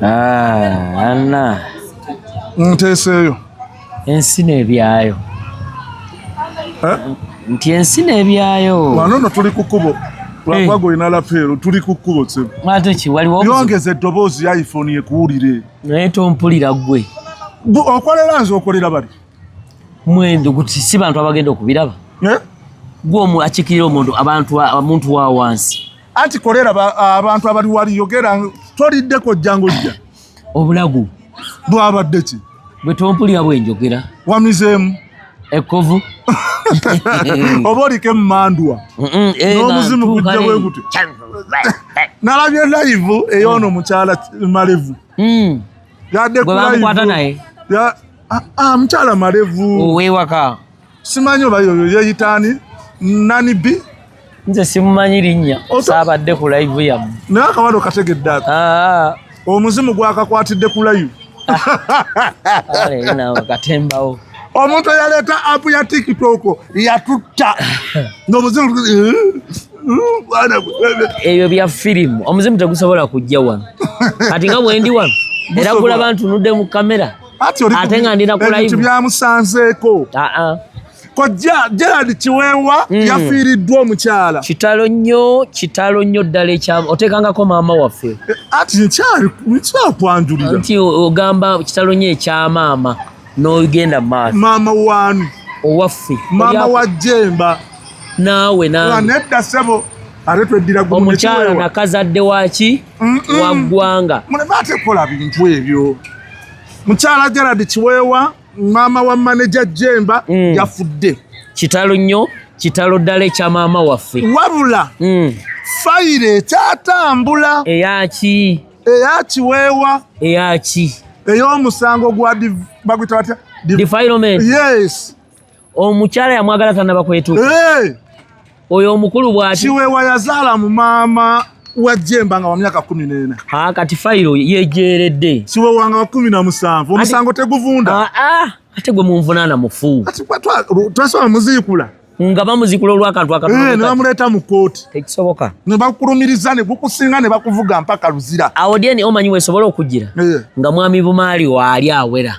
Ah, Anna nteeseeyo ensi n'ebyayo eh? nti ensi n'ebyayo wano no tuli ku kkubo lwakuba eh. golina lapeero tuli ku kkubo yongeza eddoboozi ya iphone yekuwulire naye tompulira gwe okolera nze okolera bali mwendo guti si bantu abagenda okubiraba eh? gwe omu akikirira omuntu abantu omuntu wa wansi anti kolera abantu abali wali yogera toliddeko ojjango jja obulagu bwabadde ki bwe tompulira bwenjogera wamizeemu ekkovu oba oliko emmandwa eh, n'omuzimu gujja bwe gutyo nalabye layivu eyoono mm. mukyala malevu mm. yadekulayivu naye ah, ah, mukyala malevu owewaka simanyi oba yoyo yeyitaani nani bi nze simumanyi linnya saabadde ku live yamu naye akawalo kategedde ako ah. omuzimu gwakakwatidde ku live katembawo omuntu eyaleeta apu ya tiktok yatutta nomuzimu ebyo bya firimu omuzimu tegusobola kujja wano kati nga bwendi wano era kulaba ntunudde mu kamera ate nga ndina kulaibyamusanzeeko kojja Gerald Kiweewa mm. yafiiriddwa omukyala. Kitalo nnyo, kitalo nnyo ddala ekyama. Oteekangako maama waffe. Eh, ati nkyali nkyakwanjulira. Nti ogamba kitalo nnyo ekya maama n'ogenda mu maaso. Maama waani? Owaffe. Maama wa Jemba. Naawe naawe. Nedda ssebo. omukyala nakazadde waki waggwanga muleme ate kola bintu ebyo mukyala gerard kiweewa maama wa maneja jemba mm. yafudde kitalo nnyo kitalo ddala ekya maama waffe wabula mm. fayiro ekyatambula eyaki eyakiweewa eyaki ey'omusango gwa bagwita batya defilement yes omukyala yamwagala tanaba kwetuka hey! oyo omukulu bwati kiwewa yazaala mu maama wajjemba nga wamyaka kumi nena ah, kati fayiro yejeredde kiwewa nga wakumi na musanvu omusango teguvunda ah, ah, ate gwe munvunana mufu twasoma muzikula nga bamuzikula olwakantu akanebamuleeta eh, mu kooti tekisoboka nebakulumiriza negukusinga nebakuvuga mpaka luzira awo dyeni omanyi wesobola okugira eh. nga mwami bumaali waali awera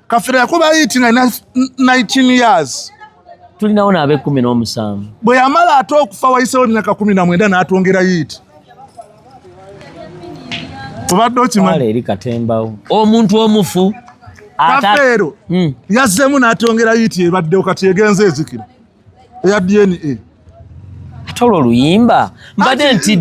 kafira yakuba yiti nga 19 years tulinawo naabe kumi n'omusanvu bwe yamala ate okufa wayisewo emyaka kumi na mwenda n'atwongera yiiti obadde okimanyi eri katembawo omuntu omufu kafeero hmm. yazzemu n'atwongera yiiti ebaddewo kati egenze ezikira eya dna ate olwo oluyimba mbadde nti